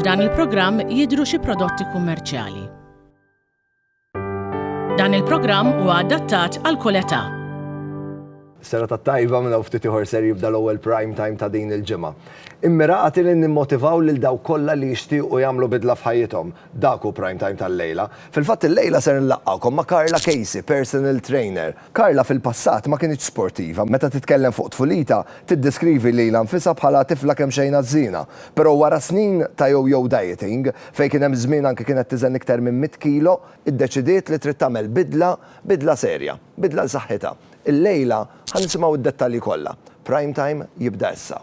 F'dan il-programm jidhru xi prodotti kummerċjali. Dan il-programm huwa adattat għal kull età. Sera ta' tajba minn hawn ftit ieħor ser jibda l-ewwel prime time ta' din il-ġimgħa. Immirati li nimmotivaw lil daw kollha li jixtiequ jagħmlu bidla f'ħajjithom Dak hu Prime Time tal-lejla. Fil-fatt illejla ser inlaqqgħukom ma' Karla Casey, personal trainer. Karla fil-passat ma kinitx sportiva. Meta titkellem fuq tfulitha, tiddeskrivi lilha nfisha bħala tifla kemxejn ħażżiena. Però wara snin ta' yo-yo dieting, fejn kien hemm żmien anke kienet tiżen iktar minn mitt kilo, iddeċidiet li trid tagħmel bidla, bidla serja, bidla l-saħħitha. Illejla ħa nisimgħu d-dettalji kollha. Prime Time jibda issa.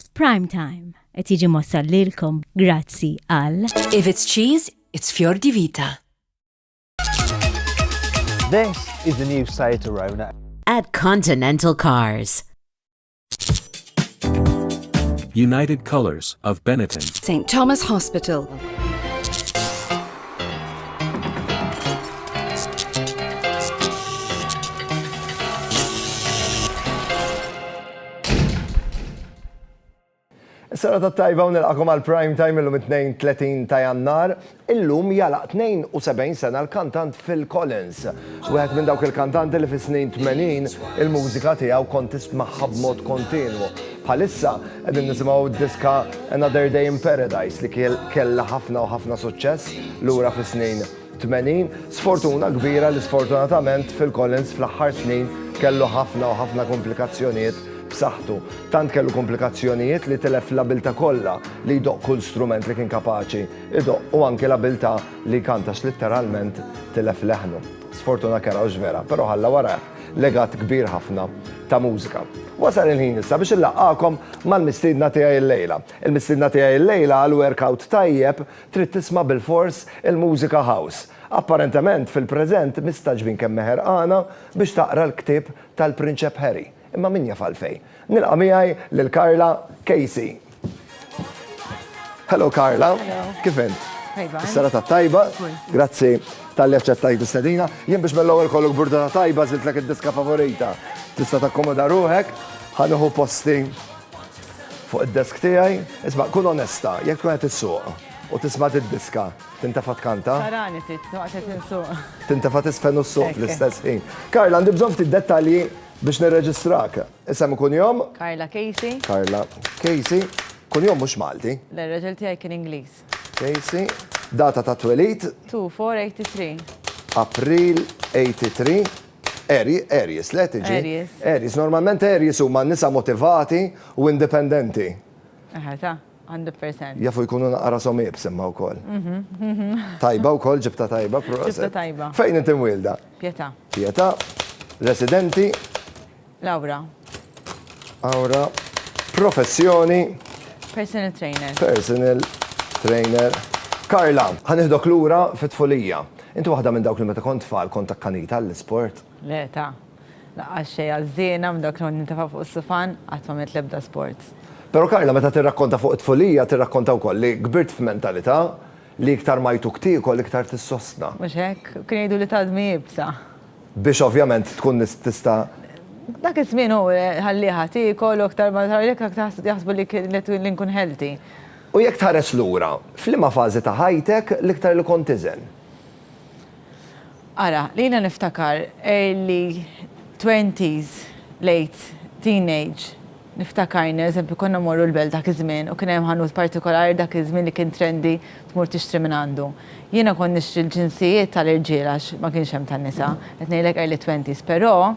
F'Prime Time, Qed jiġi mwassal lilkom grazzi għal. If it's cheese, it's fior di vita. This is the new Seat Arona. At Continental Cars. United Colors of Benetton. St. Thomas Hospital. Is-serata t-tajba u nilqagħkom għal Prime Time illum it-Tnejn 30 ta' Jannar. Illum jagħlaq 72 sena l-kantant Phil Collins. Wieħed minn dawk il-kantanti li fis-snin 80 il-mużika tiegħu kont tismagħha b'mod kontinwu. Bħalissa qegħdin nisimgħu d-diska Another Day in Paradise li kellha ħafna u ħafna suċċess lura fis-snin 80, sfortuna kbira li sfortunatament Phil Collins fl-aħħar snin kellu ħafna u ħafna komplikazzjonijiet b'saħħtu. Tant kellu komplikazzjonijiet li tilef l-abilta kollha li jdoqq kull strument li kien kapaċi jdoqq u anki l-abilta li jkanta għax litteralment tilef leħnu. Sfortuna kerha hux vera, però ħalla warajh legat kbir ħafna ta' mużika. Wasal il-ħin issa biex inlaqqagħkom mal-mistiedna tiegħi llejla. Il-mistiedna tiegħi llejla għal workout tajjeb Trid tisma' bilfors il-mużika house. Apparentement, fil-preżent, mistagħġbin kemmha ħerqana biex taqra l-ktieb tal-Prinċep Harry. Imma min jaf għalfejn. Nilqa' miegħi lil Carla Casey. Hello Carla. Hello. Kif int? Tajba. Is-serata tajba. Grazzi tal-li aċċettajt is-sedina. Jien biex mill-ewwel kollok burda ta' tajba żiltlek id-diska favorita. Tista' takkomoda ruħek, ħanuħu posti Fuq id-desk tiegħi, isma' kun onesta, jekk tkun qed issuq u tisma' did-diska, tintefa' tkanta? Tarani ftit, waqt qed insuq. Tintefa' tiżfen u ssuq fl-istess ħin. Karla, għandi bżonn ftit dettalji biex nirreġistrak. Isem u kunjom? Karla Casey. Karla Casey. Kunjom mhux Malti? Le, r-raġel tiegħi kien Ingliż. Casey, data ta' twelid. 2 4 83. April 83. Aries, le tiġi? Aries. Aries, normalment Aries huma nisa motivati u indipendenti. Eħe ta, 100%. Jafu jkunu naqqa rashom iebs imma wkoll. Tajba wkoll, ġibtha tajba, proset. Ġibtha tajba. Fejn inti mwielda? Pietà. Pietà, residenti? Lawra. Awra, professjoni. Personal trainer. Personal trainer. Karla, ħa nieħdok lura fit-tfulija. Inti waħda minn dawk li meta kont tfal kont akkanita għall-isport? Le ta'. Laqqas xejn għażżiena minn dawk li kont nintefa' fuq is-sufan, qatt m'għamilt l-ebda sports. Però Karla meta tirrakkonta fuq it-tfulija tirrakkonta wkoll li kbirt f'mentalità li iktar ma jtuk tiekol iktar tissostna. Mhux hekk? Kien jgħiduli tgħaddmi iebsa. Biex ovvjament tkun tista'. Dak iż-żmien hu ħallieha tiekol u aktar ma tħallieha aktar jaħsbu li li nkun healthy. U jekk tħares lura, f'liema fażi ta' ħajtek l-iktar li kont tiżen? Ara, jiena niftakar early twenties, late teenage. Niftakar, eżempju, konna mmorru l-Belt dak iż-żmien u kien hemm ħanut partikolari dak iż-żmien li kien trendy tmur tixtri minn għandu. Jiena kont nixtri l-ġinsijiet tal-irġiel għax ma kienx hemm tan-nisa, qed ngħidlek early twenties, però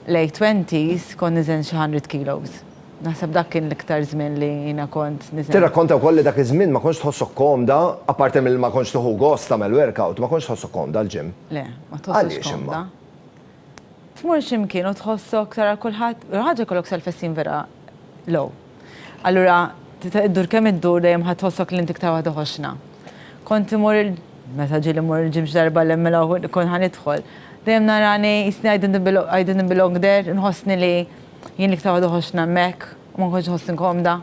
late twenties kont niżen xi hundred kilos. Naħseb dak kien l-iktar żmien li jiena kont niżen. Tirrakkonta wkoll li dak iż-żmien ma kontx tħossok komda, apparti milli ma kontx tieħu gost tagħmel workout, ma kontx tħossok komda għall-gym. Le, ma tħossokx komda. Għaliex imma? Tmur xi mkien u tħossok tara kulħadd, l-ewwel ħaġa jkollok self-esteem vera low. Allura iddur kemm iddur dejjem ħa tħossok li int iktar waħda ħoxna. Kont imur il, meta ġieli mmur il-gym xi darba li hemm mela wħud kont ħa nidħol, dejjem narani jisni I didn't belong, I didn't belong there, inħossni li jien l-iktar waħda ħoxna hemmhekk u ma nkontx inħossni komda.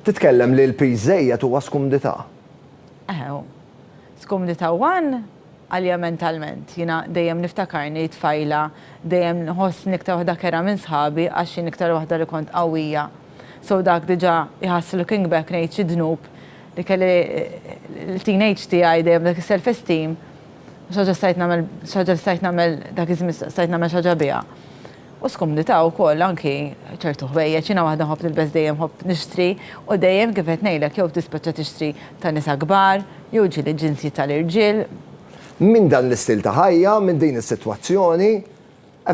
Titkellem li l-piż żejjed huwa skumdità. Eħe hu. Skumdità one, għalija mentalment. Jiena dejjem niftakarni tfajla dejjem nħossni iktar waħda kerha minn sħabi għax jien iktar waħda li kont qawwija. So dak diġa jħass looking back ngħid xi dnub li kelli l-teenage tiegħi dejjem dak is-self esteem xi ħaġa stajt nagħmel xi ħaġa li stajt nagħmel dak iż-żmien stajt nagħmel xi ħaġa biha. U skomdità wkoll anki ċertu ħwejjeġ. Jiena waħda nħobb nilbes dejjem nħobb nixtri u dejjem kif qed ngħidlek jew tispeċċa tixtri ta' nisa kbar jew ġieli ġinsji tal-irġiel. Minn dan l-istil ta' ħajja, minn din is-sitwazzjoni,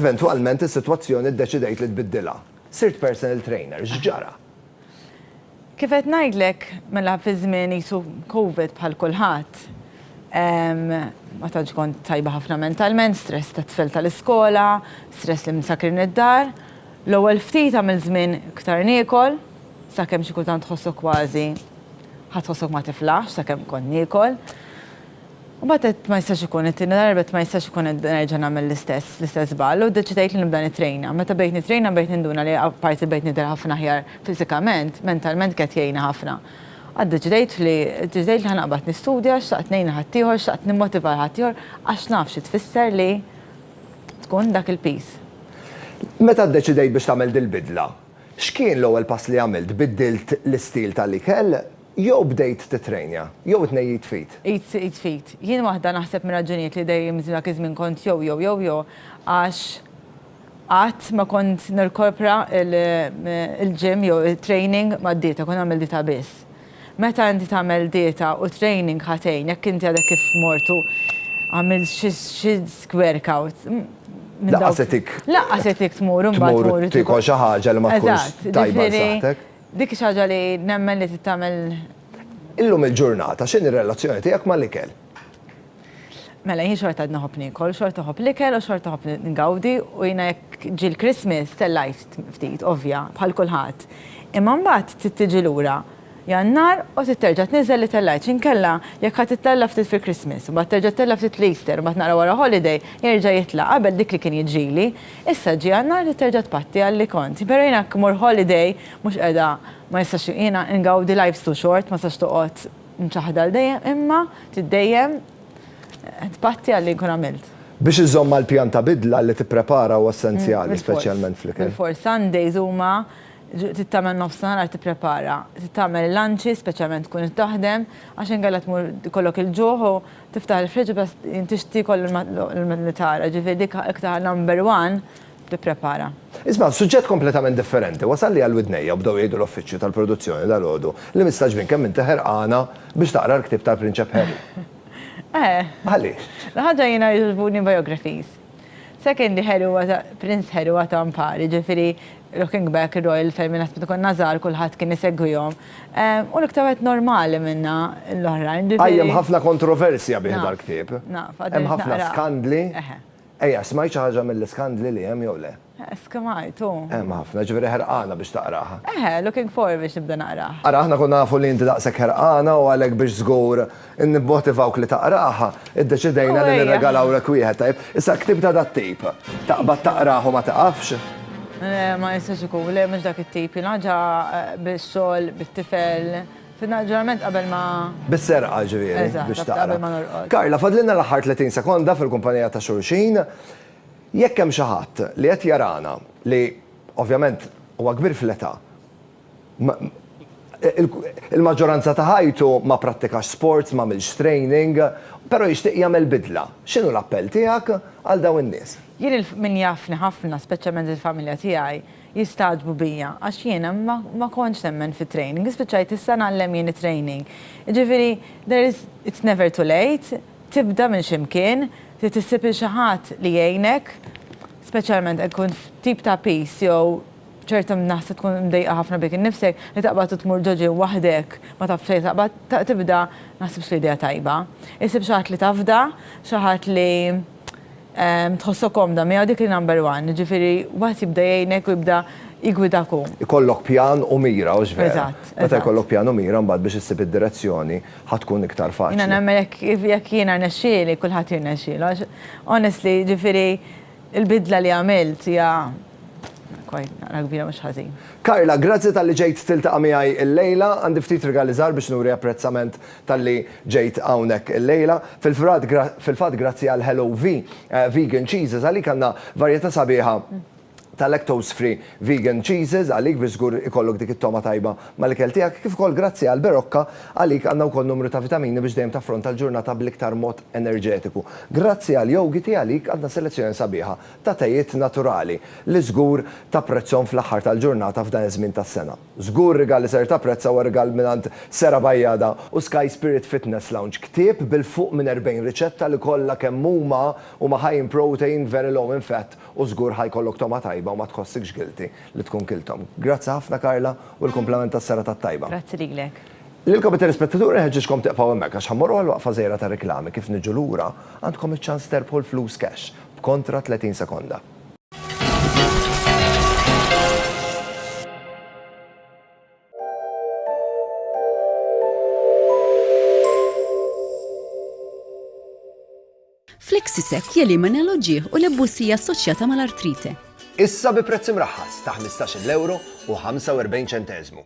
eventwalment is-sitwazzjoni ddeċidejt li tbiddilha. Sirt personal trainer. X'ġara? Kif qed ngħidlek, mela fi żmien qisu Covid bħal kulħadd, ma tantx kont tajba ħafna mentalment, stress tat-tfal tal-iskola, stress li msakrin id-dar. L-ewwel ftit għamilt żmien iktar niekol, sakemm xi kultant tħossok kważi ħa tħossok ma tiflaħx sakemm kont niekol. U mbagħad għedt ma jistax ikun, it-tieni darba għedt ma jistax ikun qed nerġa' nagħmel l-istess, l-istess żball u ddeċidejt li nibda nittrejna. Meta bdejt nittrejna bdejt ninduna li apparti li bdejt nidher ħafna aħjar fiżikament, mentalment kienet tgħinni ħafna. Għad ddeċidejt li, ddeċidejt li ħa naqbad nistudja, xtaqt ngħin lil ħaddieħor, xtaqt nimmotiva lil ħaddieħor għax naf xi tfisser li tkun dak il-piż. Meta ddeċidejt biex tagħmel dil-bidla, x'kien l-ewwel pass li għamilt? Biddilt l-istil tal-ikel? Jew bdejt tittrejnja, jew it-tnejn id f'id? Id id f'id. Jien waħda naħseb mir-raġunijiet li dejjem dak iż-żmien kont jew jew jew jew għax qatt ma kont nirkopra l-gym jew it-training mad-dieta, kont nagħmel dieta biss. Meta inti tagħmel dieta u training ħa tgħin, jekk inti għadek kif mort u għamilt xi xi squarkout minn dawk. Lanqas itik. Lanqas itik tmur imbagħad tmur. Tmur tiekol xi ħaġa li ma tkunx tajba għal saħħtek. Dik hi xi ħaġa li nemmen li trid tagħmel. Illum il-ġurnata x'inhi r-relazzjoni tiegħek mal-ikel? Mela jien xorta għadni nħobb niekol, xorta nħobb l-ikel u xorta nħobb ngawdi u jiena jekk ġie l-Christmas tellajt ftit ovvja bħal kulħadd. Imma mbagħad trid tiġi lura Jannar u trid terġa' tniżżel li tellajt x'inkella jekk ħa tittella' ftit fil-Christmas u mbagħad terġa' ttella' ftit l-Easter u mbagħad naqra wara holiday jerġa' jitla' qabel dik li kien jiġrili Issa ġie għan-nhar li terġa' tpatti għal li kont. Pero' jiena jekk immur holiday mhux qiegħda ma nistax jiena ingawdi life's too short ma tistax toqgħod mċaħħda għal dejjem imma trid dejjem tpatti għal li nkun għamilt. Biex iżżomm mal-pjan ta' bidla li tipprepara huwa essenzjali, speċjalment fl-ikel. Bil-fors. Sundays huma trid tagħmel nofsinhar għal tipprepara. Trid tagħmel il-lunches, speċjalment tkun qed taħdem, għax inkella tmur ikollok il-ġuħ u Tiftaħ il-fridge bas inti x'ti kollu l-li tara, ġifieri dik iktar number one tipprepara. Isma', suġġett kompletament differenti wasalli għal widnejja u bdew jgħidu l-uffiċċju tal-produzzjoni dalgħodu li mistagħġbin kemm inti ħerqana biex taqra l-ktieb tal-Prinċep Harry. Eh. Għaliex? L-ħaġa jiena jogħġbuni biographies. Sekondi Harry huwa Prince Harry huwa ta' mpari, ġifieri looking back ir-Royal Family naħseb meta konna żgħar kulħadd kien isegwihom. Hu l-iktar wieħed normali minna l-oħrajn, ġifieri. Qajjem ħafna kontroversja bih dal-ktieb. Naf, naf, għad irid naqrah. Hemm ħafna skandli. Eħe. Ejja, smajt xi ħaġa mill-iskandli li hemm jew le? Skemajt, u. Hemm ħafna, ġifieri ħerqana biex taqraha. Eħe, looking forward biex nibda naqrah. Ara, aħna konna nafu li inti daqshekk ħerqana u għalhekk biex żgur nibmotivawk li taqraha, iddeċidejna li nirregalawlek wieħed, tajjeb? Issa, ktieb ta' dat-tip, taqbad taqrah u ma tiqafx? Le, ma jistax ikun, le mhux dak it-tip, jien ħaġa bix-xogħol, bit-tifel, fin-ġurnament qabel ma. Bis-serqa, ġifieri, biex taqra. Eżatt, qabel ma norqod. Karla, fadlilna l-aħħar tletin sekonda fil-kumpanija ta' xulxin. Jekk hemm xi ħadd li qed jarana li ovvjament huwa kbir fl-età, il-maġġoranza ta' ħajtu ma prattikax sports, m'għamilx training, però jixtieq jagħmel bidla, x'inhu l-appell tiegħek għal dawn in-nies? Jien min jafni ħafna, speċjalment il-familja tiegħi, jistagħġbu bija għax jiena ma kontx nemmen fit-training. Spiċċajt issa ngħallem jien it-training. Jiġifieri there is, it's never too late, tibda minn xi mkien, trid issib 'il xi ħadd li jgħinek, speċjalment jekk tkun f'tip ta' piż jew ċerta naħseb tkun mdejqa ħafna bik innifsek, li taqbad u tmur ġo ġie waħdek ma taf fejn se taqbad, tibda ma naħsibx li idea tajba. Issib xi ħadd li tafda, xi ħadd li. tħossok komda miegħu dik hi number one. Jiġifieri wieħed jibda jgħinek u jibda jiggwidak hu. Ikollok pjan u mira, hux vera? Eżatt, eżatt. Meta jkollok pjan u mira mbagħad biex issib id-direzzjoni ħa tkun iktar faċli. Jiena nemmen jekk jekk jiena rnexxieli kulħadd jirnexxielu għax honestly jiġifieri l-bidla li għamilt hija quite naqra kbira mhux ħażin. Carla, grazzi talli ġejt tiltaqa' miegħi illejla. Għandi ftit rigali żgħar biex nuri apprezzament talli ġejt hawnhekk illejla. Fil-fatt grazzi għal Hello V Vegan Cheeses għalik għandna varjetà sabiħa ta' lactose free vegan cheeses għalik biex żgur ikollok dik it-togħma tajba mal-ikel tiegħek kif ukoll grazzi għal Berocca għalik għandna wkoll numru ta' vitamini biex dejjem taffronta l-ġurnata bl-iktar mod enerġetiku. Grazzi għal Yogiti għalik għandna selezzjoni sabiħa ta' tejiet naturali li żgur tapprezzhom fl-aħħar tal-ġurnata f'dan iż-żmien tas-sena. Żgur rigal li ser tapprezza huwa rigal mingħand Sera Bajada u Sky Spirit Fitness Lounge, ktieb bil-fuq minn 40 riċetta li kollha kemm huma huma high in protein, very low in fat u żgur ħa jkollok togħma tajba u ma tħossikx guilty li tkun kilthom. Grazzi ħafna Karla u l-kumplament tas-serata t-tajba. Grazzi lilek. Lilkom it-telespettaturi nħeġġiġkom tieqfgħu hemmhekk għax ħa mmorru għal waqfa żgħira ta' riklami kif niġu lura għandkom iċ-ċans terbħu l-flus cash b'kontra 30 sekonda. Flexisek jelimina l-oġieħ u l-ebbusija assoċjata mal-artrite. Issa bi prezz imraħħas ta' 15 euro u 45 ċentezmu.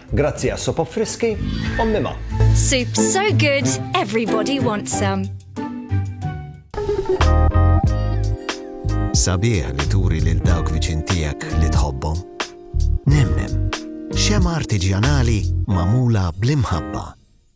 Grazzi għas-sopop friski, ommi ma. Soup so good, everybody wants some. Sabiħ li turi lil dawk viċin tiegħek li tħobbhom. Nemnem, xema artiġjanali mamula bl-imħabba.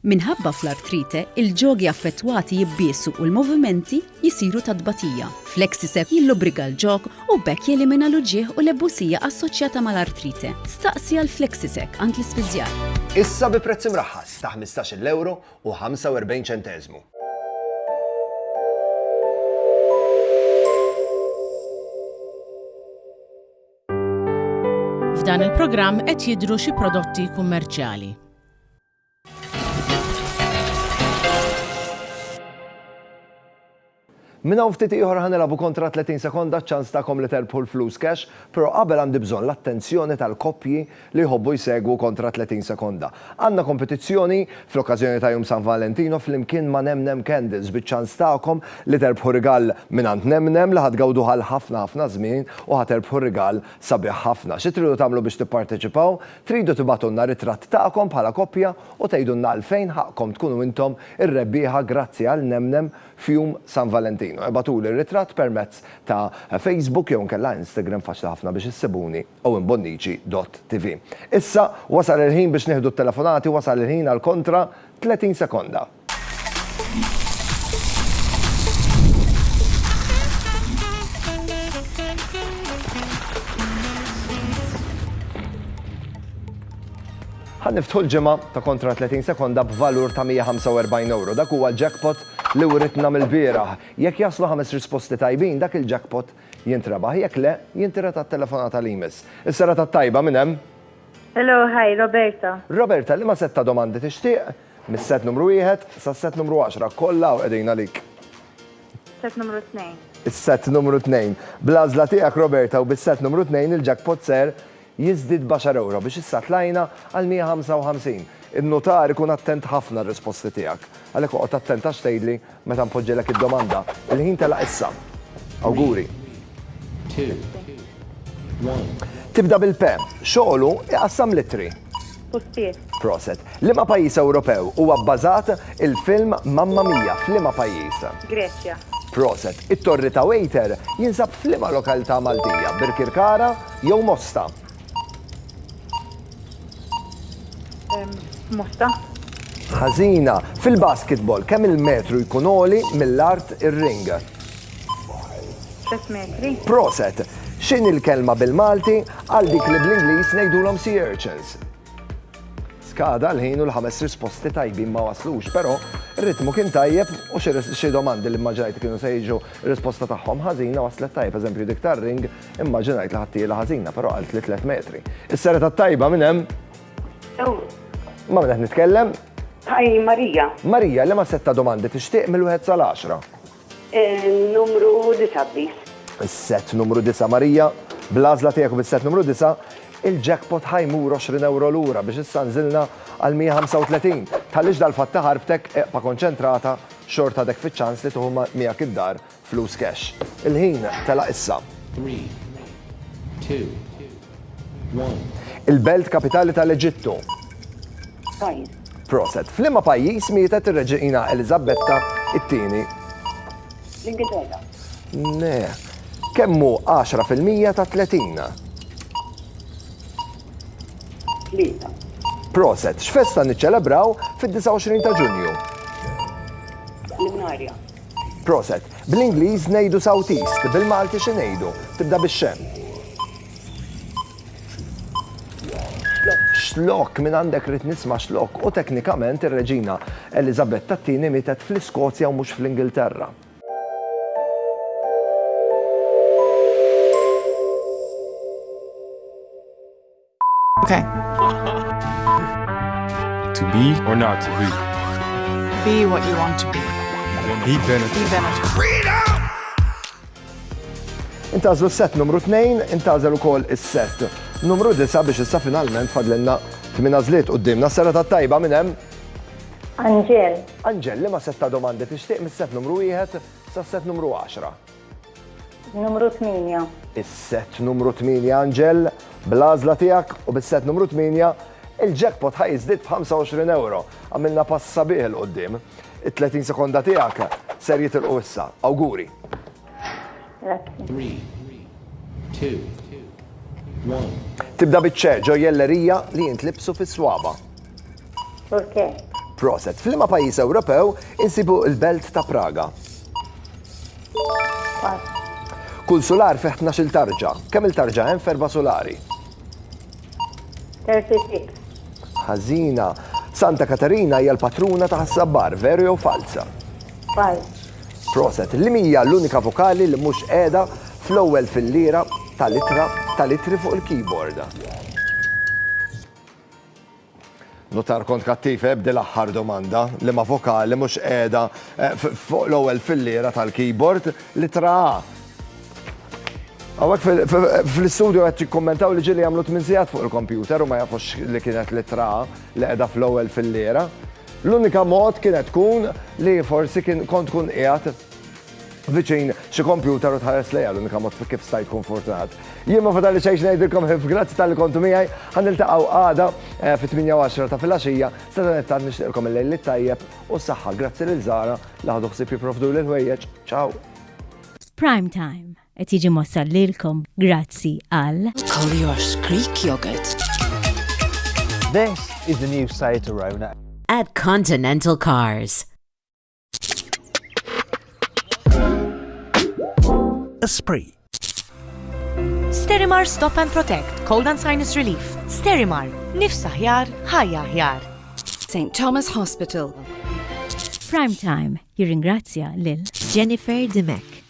Minħabba fl-artrite, il-ġogi affettwati jibbiesu u l-movimenti jsiru ta' tbatija. Flexicep jillubrika l-ġog u b'hekk jelimina l-uġigħ u l-ebusija assoċjata mal-artrite. Staqsi għal Flexicep għand l-ispiżjar. Issa bi prezz imraħħas ta' ħmistax-il ewro u ħamsa u erbgħin ċenteżmu. F'dan il-programm qed jidhru xi prodotti kummerċjali. Minn hawn ftit ieħor ħa nilagħbu kontra 30 sekonda ċ-ċans tagħkom li terbħu l-flus cash, però qabel għandi bżonn l-attenzjoni tal-koppji li jħobbu jsegwu kontra 30 sekonda. Għandna kompetizzjoni fl-okkażjoni ta' Jum San Valentino flimkien ma' Nem Nem Candles biċ-ċans tagħkom li terbħu rigal mingħand Nem Nem li ħa tgawduh għal ħafna ħafna żmien u ħa terbħu rigal sabiħ ħafna. Xi tridu tagħmlu biex tipparteċipaw? Tridu tibgħatulna ritratt tagħkom bħala koppja u tgħidulna għalfejn ħaqqkom tkunu intom ir-rebbieħa grazzi għal nemnem f'jum San Valentinu. Ibgħatuli r-ritratt permezz ta' Facebook jew inkella Instagram faċli ħafna biex issibuni owenbonnici dott TV. Issa wasal il-ħin biex nieħdu t-telefonati wasal il-ħin għal kontra 30 sekonda. Ħan niftħu l-ġimgħa ta' kontra 30 sekonda b'valur ta' 145 euro. Dak huwa l-jackpot li writna mill-bieraħ. Jekk jaslu ħames risposti tajbin, dak il-jackpot jintrebaħ. Jekk le, jintira ta' telefonata li jmiss. Is-sera ta' tajba minn hemm? Hello, hi, Roberta. Roberta, li ma setta domandi tixtieq? Mis-sett numru wieħed sas-sett numru għaxra, kollha hawn qegħdin għalik. Sett numru tnejn. Is-sett numru tnejn. Bl-għażla tiegħek Roberta u bis-sett numru tnejn il-jackpot ser jiżdied b'għaxar ewro biex issa tlajna għal 155. In-nutar ikun attent ħafna r-risposti tiegħek. Għalhekk oqgħod attent għax tgħidli Meta npoġġilek id-domanda, il-ħin telaq issa. Awguri. Tibda bil-P. Xogħlu iqassam l-ittri. Pustier. Proset. Liema pajjiż Ewropew huwa bbażat il-film Mamma Mia f'liema pajjiż? Greċja. Proset. It-Torri ta' Waiter jinsab f'liema lokaltà Maltija, Birkirkara jew Mosta? Musta. Ħażina. Fil-basketball, kemm il-metru jkun oli mill-art ir-ring? 3 metri. Proset. X'in il-kelma bil-Malti għal dik li bl-Ingliż ngħidulhom sea urchins? Skada l-ħin u l-ħames risposti tajbin ma waslux, però ritmu kien tajjeb u xi domandi li mmaġinajt kienu se jiġu risposta tagħhom ħażina waslet tajjeb, eżempju dik tar-ring Immaġinajt li ħattiela ħażina, però għalt li tliet metri. Is-sera tat-tajba minn hemm. Ma minn qed nitkellem? Hi Marija. Marija li ma setta domandi tixtieq mill-wieħed sal-10. Eh, numru 9 please. Is-set numru 9 Marija, bl-għażla tiegħek u bis-set numru 9, il-jackpot ħajmur 20 euro lura biex issa nżilna għal 135. Tħallix dal-fatt taħarbtek eqpa konċentrata xorta dek fiċ-ċans li tuħu miegħek id-dar Flus cash. Il-ħin telaq issa. Three, two, one. Il-belt kapitali tal-Eġittu. Pajjiż. Proset. F'liema pajjiż mietet ir-Reġiina Eliżabetta t-Tieni? L-Ingilterra. Ne. Kemm hu 10 fil-mija ta' 30? Tlieta. Proset. X'festa niċċelebraw fid-29 ta' Ġunju? Lunarja. Proset. Bl-Ingliż ngħidu southeast, bil-Malti xi ngħidu? Tibda bix-xe. Xlok, minn għandek rrit nisma' xlok, u teknikament ir-Reġina Eliżabetta t-tieni mietet fl-Iskozja u mhux fl-Ingilterra. Okay. to be or not to be. Be what you want to be. Be benefit. Be benefit. Freedom! Intażlu s-set numru 2, intażel ukoll is-set numru 9 biex issa finalment fadlenna tmina zliet u d-dimna s-sena ta' tajba minn hemm. Anġel. Anġel, li ma setta domandi tixtieq mis-set numru 1 sa' set numru 10. Numru tmienja. Is-sett numru tmienja Anġel, bl-għażla tiegħek u bis-sett numru tmienja, il-jackpot ħa jiżdied b'€25. Għamilna pass sabiħ 'il quddiem. It-30 sekonda tiegħek ser jitilqu issa. Awguri! Grazzi. Tibda biċ-ċe ġo jellerija li jintlibsu fis-swaba'. Turke. Proset. F'liema pajjiż Ewropew insibu l-belt ta' Praga? Kull sular fih 12 tarġa. Kemm il-tarġa hemm ferba sulari? 36. Ħażina. Santa Katarina hija l-patruna ta' sabbar, veru jew falza? Falz. Proset. Li hija l-unika vokali li mhux qiegħda fl-ewwel fil-lira tal-ittra tal-ittri fuq il-keyboard? Notar kont kattiv eh b'dil aħħar domanda, liema vokali mhux qiegħda eh, fuq l-ewwel filliera tal-keyboard, litra A. Għawek fl-istudio għed kommentaw li ġili għamlu 8 sigħat fuq il-kompjuter u ma jafux li kienet litra A li qiegħda fl-ewwel filliera. L-unika mod kienet tkun li forsi kont kun qiegħed viċin xi kompjuter u tħares lejha l-unika mod kif sta jkun fortunat. Jien ma fadali xejn ngħidilkom ħif grazzi tal-li kontu miegħi, ħan niltaqgħu għada eh, fit-8 ta' filgħaxija, sadanettant nixtieqkom il-lejl li tajjeb u s-saħħa grazzi lil Zara li ħadu ħsieb jipprovdu lil ħwejjeġ. Ciao! Prime Time qed jiġi mossal lilkom grazzi għal Collier's Creek Yogurt. This is the new site to Rona. At Continental Cars. Esprit. Sterimar Stop and Protect, Cold and Sinus Relief. Sterimar, nifs aħjar, ħajja aħjar. St. Thomas Hospital. Prime Time jirringrazzja lil Jennifer Dimek.